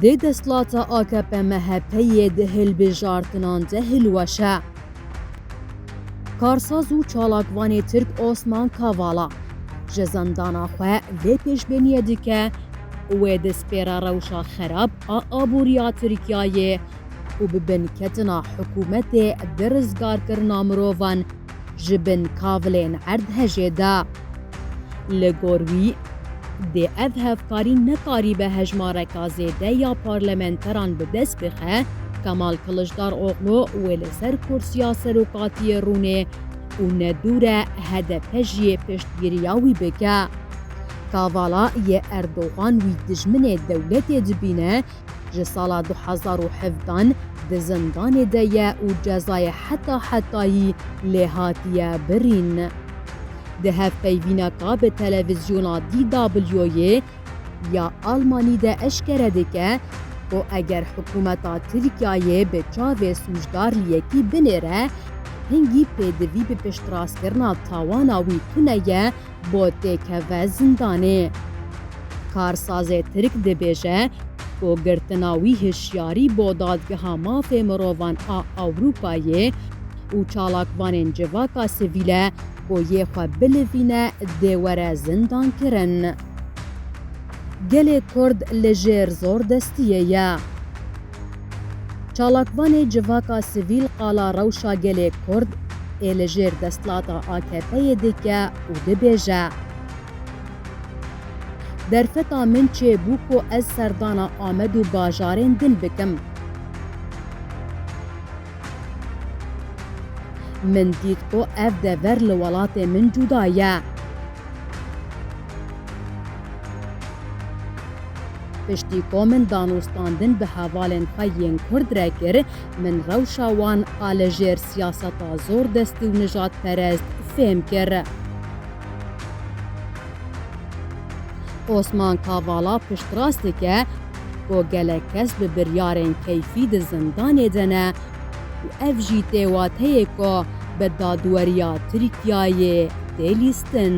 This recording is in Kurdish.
Dê desthilata AKP-MHP'yê di hilbijartinan de hilweşe. Karsaz û çalakvanê Tirk Osman Kavala ji zindana xwe vê pêşbîniyê dike, Wê di spêra rewşa xerab a aboriya Tirkiyeyê û bi binketina hikûmetê di rizgarkirina mirovan ji bin kavilên erdhejê de. Li gor wî, dê ev hevkarî nekaribe hejmareka zêde ya parlamenteran bi dest bixe, Kemal Kiliçdaroglu wê li ser kursiya serokatiyê rûnê û ne dûr e hdp jî piştgiriya wî bike. Kavala yê Erdogan wî dijminê dewletê dibîne, ji sala du hezar û hevdan di zindanê de ye û cezayê heta hetayî lê hatiye birîn. Di hevpeyvîneka bi televizyona DW-yê ya Almanî de eşkere dike ku eger hikûmeta Tirkiyeyê bi çavê sûcdar li yekî binêre, hingî pêdivî bi piştrastkirina tawana wî tune ye, bo tê keve zindanê. Karsazê Tirk dibêje ku girtina wî hişyarî bo Dadgeha Mafê Mirovan a Ewropayê û çalakvanên civaka sivîle ku yê xwe bilivîne dê were zindankirin. Gelê Kurd li jêr zordestiyê ye. Çalakvanê civaka sivîl qala rewşa gelê Kurd ê li jêr desthilata AKP'yê dike û dibêje, Derfeta min çê bû ku ez serdana Amed û bajarên din bikim. Min dît ku ev dever li welatê min cuda ye. Piştî ku min danûstandin bi hevalên xwe yên kurd re kir, min rewşa wan a li jêr siyaseta zordestî û nijadperest fêm kir. Osman Kavala piştrast dike ku gelek kes bi biryarên keyfî di zindanê de ne, û ev jî tê wateyê ku bi dadweriya Tirkiyeyê tê lîstin.